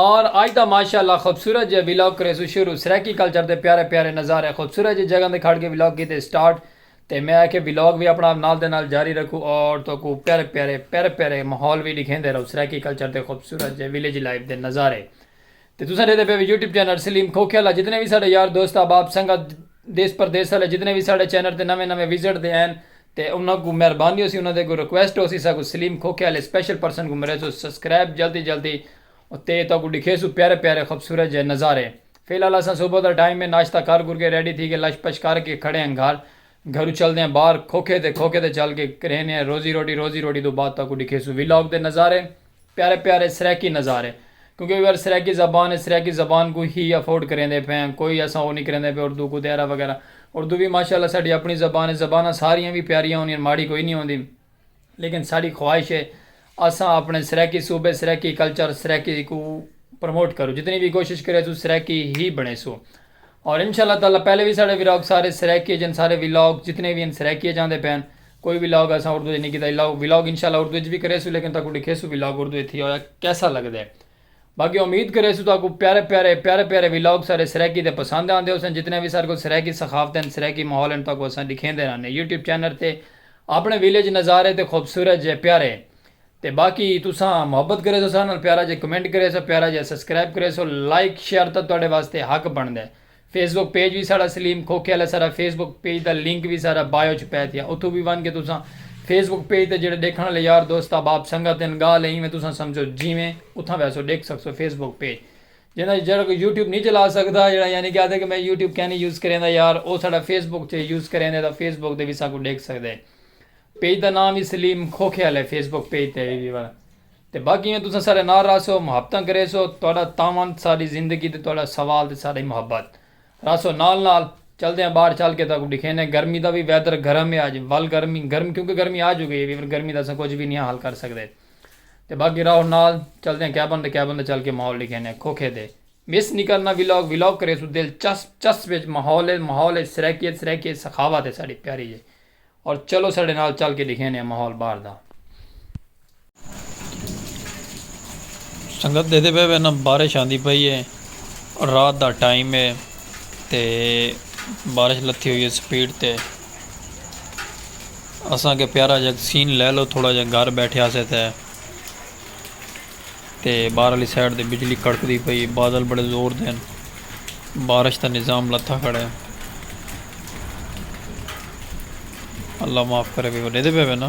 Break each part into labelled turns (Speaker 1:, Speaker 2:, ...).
Speaker 1: اور آج دا ماشاء اللہ خوبصورت جیہا ولاگ کریسوں شروع سرائیکی کلچر دے پیارے پیارے نظارے خوبصورت جیہی جگہ تے کھڑ کے ولاگ کیتے سٹارٹ تے میں آکھیا ولاگ وی اپنا نال دے نال جاری رکھوں اور تہاکوں پیارے پیارے پیارے پیارے ماحول وی ڈکھیندے رہوں سرائیکی کلچر دے خوبصورت جیہے ولیج لائف دے نظارے تے تساں ڈیہدے پے یوٹیوب چینل سلیم کھوکھے والا جتنے وی ساڈے یار دوست احباب سنگت دیس پردیس والے جتنے وی ساڈے چینل تے نویں نویں وزٹ دے ہن تے انہاں کوں مہربانی ہوسی انہاں دے اگوں ریکویسٹ ہوسی ساکوں سلیم کھوکھے آلے سپیشل پرسن کوں مریسوں سبسکرائب جلدی جلدی اتے تہاکوں ڈکھیسوں پیارے پیارے خوبصورت جئے نظارے فی الحال اساں صبح دا ٹائم ہے ناشتہ کر کر کے ریڈی تھی کے لش پش کر کے کھڑے ہاں گھر گھروں چلدے ہاں باہر کھوکھے تے کھوکھے تے چل کے کرینے ہاں روزی روٹی روزی روٹی توں بعد تہاکوں ڈکھیسوں وی لاگ دے نظارے۔ پیارے پیارے سرائیکی نظارے کیونکہ اوئر سرائیکی زبان ہے سرائیکی زبان کوں ہی افورڈ کریندے پئے آں کوئی اساں او نی کریندے پئے اردو کوں تیرا وغیرہ اردو وی ماشاءاللہ ساڈی اپنی زبان ہے زباناں ساریاں وی پیاریاں ہوندیاں ماڑی کوئی نی ہوندی لیکن ساڈی خواہش ہے اساں اپنے سرائیکی صوبے سرائیکی کلچر سرائیکی کوں پروموٹ کروں جتنی وی کوشش کریسوں سرائیکی ہی بنڑیسوں۔ اور انشاء اللہ تعالی پہلے وی ساڑے ویلاگ سارے سرائیکی اچ ہن سارے ویلاگ جتنے وی ہن سرائیکی اچ آندے پئے ہن کوئی ویلاگ اساں اردو اچ نی کیتا ویلاگ انشاء اللہ اردو اچ وی کریسوں لیکن تہاکوں ڈکھیسوں ویلاگ اردو اچ تھیا ہویا کیسا لگدے باقی امید کریسوں تہاکوں پیارے پیارے پیارے پیارے ویلاگ سارے سرائیکی دے پسند آندے ہوسن جتنے وی ساڑے کول سرائیکی ثقافت ہن سرائیکی ماحول ہن تہاکوں اساں ڈکھیندے رہنے یوٹیوب چینل تے اپنے ویلیج نظارے تے خوبصورت جے پیارے تے باقی تساں محبت کریسو اساں نال پیارا جیا کمنٹ کریسو پیارا جیا سبسکرائب کریسو لائک شیئر تاں تہاڈے واسطے حق بنڑدا ہے فیس بک پیج وی ساڈا سلیم کھوکھے آلا ساڈا فیس بک پیج دا لنک وی ساڈا بائیو اچ پے تھیا اتھوں وی ونڑ کے تساں فیس بک پیج تے جیڑھے ڈیکھنڑ آلے یار دوست احباب سنگت ہن گالھ ہے ایویں تساں سمجھو جیویں اتھاں ویسو ڈیکھ سکسو فیس بک پیج جیندے اچ جیڑھا کوئی یوٹیوب نی چلا سکدا جیڑھا یعنی کے آکھدے کے میں یوٹیوب کینی یوز کریندا یار او ساڈا فیس بک تے یوز کریندے تاں فیس بک تے وی اساں کوں ڈیکھ سکدے۔ پیج دا ناں وی سلیم کھوکھیال ہے فیس بک پیج تے وی وڑ تے باقی ایویں تساں سارے نال رہسو محبتاں کریسو تہاڈا تعاون ساڈی زندگی تے تہاڈا سوال تے ساڈی محبت رہسو نال نال چلدے آں باہر چل کے تہاکوں ڈکھینے گرمی دا وی ویدر گرم ہے اج ول گرمی گرمی کیونکہ گرمی آ چکی ہے ویور گرمی دا اساں کچھ وی نیاں حل کر سکدے تے باقی راہو نال چلدے آں کیبن تے کیبن تے چل کے ماحول ڈکھینے کھوکھے تے مس نی کرنا ولاگ ولاگ کریسو دلچسپ چسپ اچ ماحول ہے ماحول اچ سرائیکی ہے سرائیکی اچ سخاوت ہے ساڈی پیاری جئی اور چلو ساڈے نال چل کے ڈکھینے آں ماحول باہر دا۔
Speaker 2: سنگت دیکھدے پئے ویساں بارش آندی پئی اے اور رات دا ٹائم اے تے بارش لتھی ہوئی اے سپیڈ تے اساں کے پیارا جیہا سین لے لو تھوڑا جیہا گھر بیٹھیا سے تے تے باہر آلی سائیڈ تے بجلی کڑکدی پئی ہے بادل بڑے زور دے ہن بارش دا نظام لتھا کھڑا ہے اللہ معاف کرے بھئی وڈے دے پے نا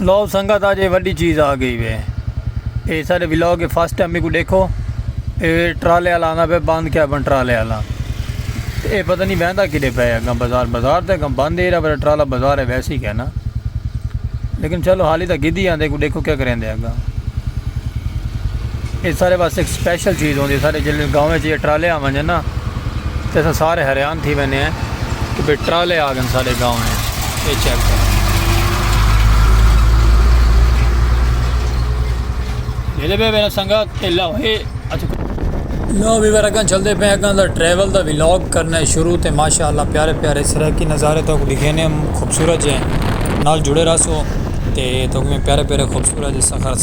Speaker 1: لو سنگت آج یہ وڈی چیز آ گئی وے اے سارے ولاگ کے فرسٹ ٹائم میرے کو دیکھو اے ٹرالے والا آنا پہ بند کیا بن ٹرالے والا اے پتہ نہیں بہندا کدے پہ اگم بازار بازار تے اگم بند ہے پر ٹرالا بازار ہے ویسے ہی کہنا لیکن چلو حالی تک گدی آندے کو دیکھو کیا کریں دے اگا اے سارے واسطے ایک سپیشل چیز ہوندی سارے جلے گاؤں وچ یہ ٹرالے آون جے نا تے سارے حیران تھی وینے ہیں کہ ٹرالے آ گئے سارے گاؤں ہیں اے چیک کرو یہ بھی میرا سنگت کہ لو ہے لو بھی میرا کن چل دے پہ اگاں دا ٹریول دا ویلاگ کرنا شروع تے ماشاءاللہ پیارے پیارے سرائیکی نظارے تو کو دکھینے خوبصورت جے نال
Speaker 2: جڑے رہا سو تے تو کو میں پیارے پیارے خوبصورت جے سخر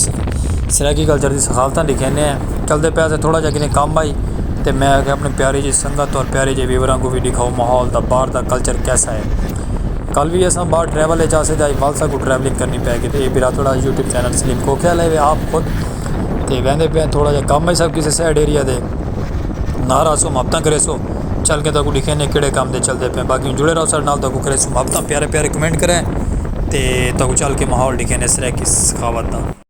Speaker 2: سرائیکی کلچر دی سخالتاں دکھینے ہیں چل دے پہ سے تھوڑا جا کنے کام آئی تے میں اگے اپنے پیارے جے سنگت اور پیارے جے ویوران کو بھی دکھاؤ ماحول دا بار دا کلچر کیسا ہے کل وی اساں باہر ٹریول اچ آسے تے اج ول ساکوں ٹریولنگ کرنی پے گی تے اے میرا تھوڑا یوٹیوب چینل سلیم کوکیل ہے آپ خود تے ویندے پئے ہیں تھوڑا جہا کم ہے سا کسے سائڈ ایریا دے نال آسو محبتاں کرے سو چل کے تاکوں ڈیکھے نے کیڑے کام دے چلدے پئے ہیں باقی ہوں جڑے رہو ساڈے نال تاکوں کرے سو محبتاں پیارے پیارے کمنٹ کرے تے تاکوں چل کے ماحول ڈیکھے نے سرائیکی سخاوت دا۔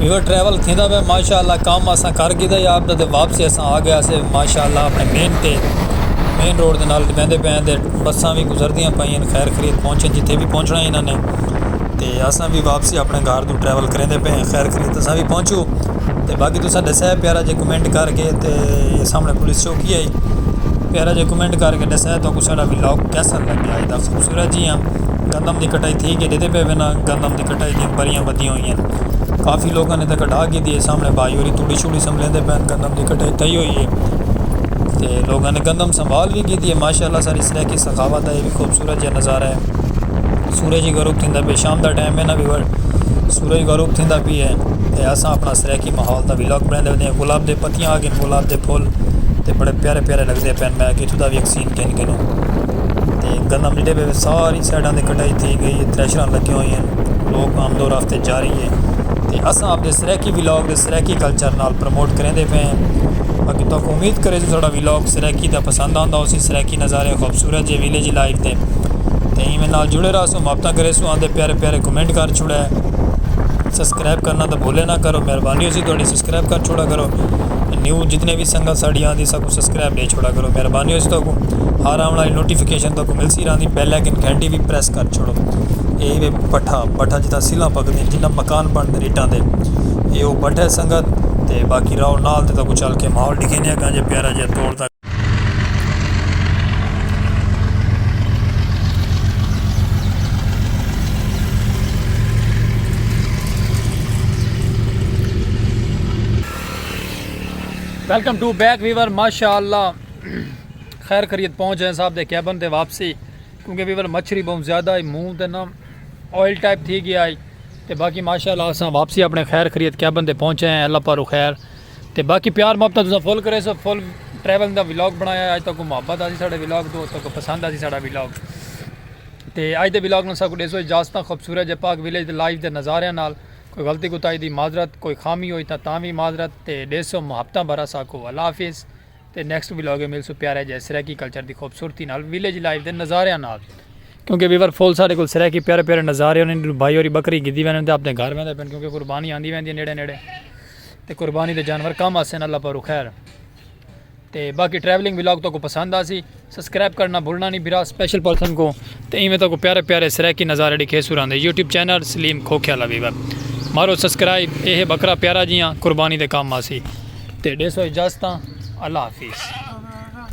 Speaker 2: یو ٹریول تھیندا پہ ماشاءاللہ کام اساں کر گیدا یا اپ تے واپس اساں آ گیا سے ماشاءاللہ اپنے مین تے مین روڈ دے نال ویندے پے ہیں تے بساں وی گزردیاں پئیں خیر خرید پہنچن جتھے وی پہنچنا انہاں نے تے اساں وی واپسی اپنے گھر توں ٹریول کریندے پے ہیں خیر خرید اساں وی پہنچوں تے باقی تساں ڈسایا پیارا جے کمنٹ کر کے تے اے سامنے پولیس چوکی ہائی پیارا جے کمنٹ کر کے ڈسایا تو کسا ڈا وی لاک کیسا لگیا اے دا خوبصورت جی ہاں گندم دی کٹائی تھی کے ڈیدے پے وے نا گندم دی کٹائی دی بریاں بدیاں ہوئی ہیں کافی لوگوں نے تے کڈا گی دی اے سامنے بھائی ہوری توڑی شوڑی سمبھلے دے پین گندم دی کٹائی تھئی ہوئی اے تے لوگوں نے گندم سنبھال وی گی دی اے ماشاءاللہ ساری سرائیکی سخاوت دا اے وی خوبصورت جے نظارہ اے۔ سورج غروب تھیندا پئے شام دا ٹائم ہے نا ویور سورج غروب تھیندا پی ہے تے اساں اپنا سرائیکی ماحول دا ولاگ بناندے ودے ہیں گلاب دے پتیاں آ گن گلاب دے پھول تے بڑے پیارے پیارے لگدے پین میں کہ اتھوں دا وی ایک سین گھن گھنوں تے گندم جڈے پے ساری سائڈاں تے کٹائی تھی گئی ہے تھریشران لگیاں ہوئی ہیں لوک آمد و رفت جاری ہے تے اساں اپنے سرائیکی ولاگ دے سرائیکی کلچر نال پروموٹ کریندے پئے ہیں باقی تہاکوں امید کریندے جو ساڈا ولاگ سرائیکی دا پسند آندا ہوسی سرائیکی نظارے خوبصورت جے ولیج لائف دے تے ایویں نال جڑے رہسوں محبتاں کریسوں آندے پیارے پیارے کمنٹ کر چھوڑے سبسکرائب کرنا تاں بھولے نہ کرو مہربانی ہوسی تہاڈی سبسکرائب کر چھوڑا کرو تے نیو جتنے وی سنگت ساڈی آندی ساکوں سبسکرائب ڈے چھوڑا کرو مہربانی ہوسی تہاکوں ہر آون آلی نوٹیفکیشن تہاکوں ملسی رہندی بیل آئیکن گھنٹی وی پریس کر چھوڑو اے وے بٹھا بٹھا جتھاں سلاں پکدیں جتھاں مکان بنڑدن اٹاں دے۔ اے او بٹھے سنگت تے باقی راؤ نال تے تاکوں چل کے ماحول ڈکھینے ہیں کانجے پیارا جے توڑ تاکہ
Speaker 1: ویلکم ٹو بیک ویور ماشاءاللہ خیر خرید پہنچ جائیں صاحب دے کیبن تے واپسی کیونکہ ویور مچھری بہت زیادہ ہے مون تے نام آئل ٹائپ تھی گیا ہے تے باقی ماشاء اللہ اساں واپسی اپنے خیر خریت کیبن تے پہنچے ہیں اللہ پارو خیر تے باقی پیار محبت تساں فل کرے سو فل ٹریول دا ولاگ بنایا ہے اج تک محبت آسی ساڑے ولاگ تو تک پسند آسی ساڑا ولاگ تے اج دے ولاگ نال ساکو دیسو اجازتاں خوبصورت جے پاک ویلیج دے لائیو دے نظاریاں نال کوئی غلطی کوتائی دی معذرت کوئی خامی ہوئی تاں تاں وی معذرت تے دیسو محبتاں بھرا ساکو اللہ حافظ تے نیکسٹ ولاگ اے ملسو پیارے جے سرائیکی کلچر دی خوبصورتی نال ویلیج لائف دے نظاریاں نال کیونکہ ویور فول سارے کول سرائیکی پیارے پیارے نظارے ہونے بھائی ہوری بکری گدی ویندے تے اپنے گھر ویندے پن کیونکہ قربانی آندی ویندی نیڑے نیڑے تے قربانی دے جانور کم آسن اللہ پاک خیر تے باقی ٹریولنگ ولاگ تو کو پسند آسی سبسکرائب کرنا بھولنا نہیں بھرا سپیشل پرسن کو تے ایویں تاکو پیارے پیارے سرائیکی نظارے ڈکھے سوران دے یوٹیوب چینل سلیم کھوکھیا لوی ور مارو سبسکرائب اے ہے بکرا پیارا جیاں قربانی دے کام آسی تے ڈیسو اجازتاں اللہ حافظ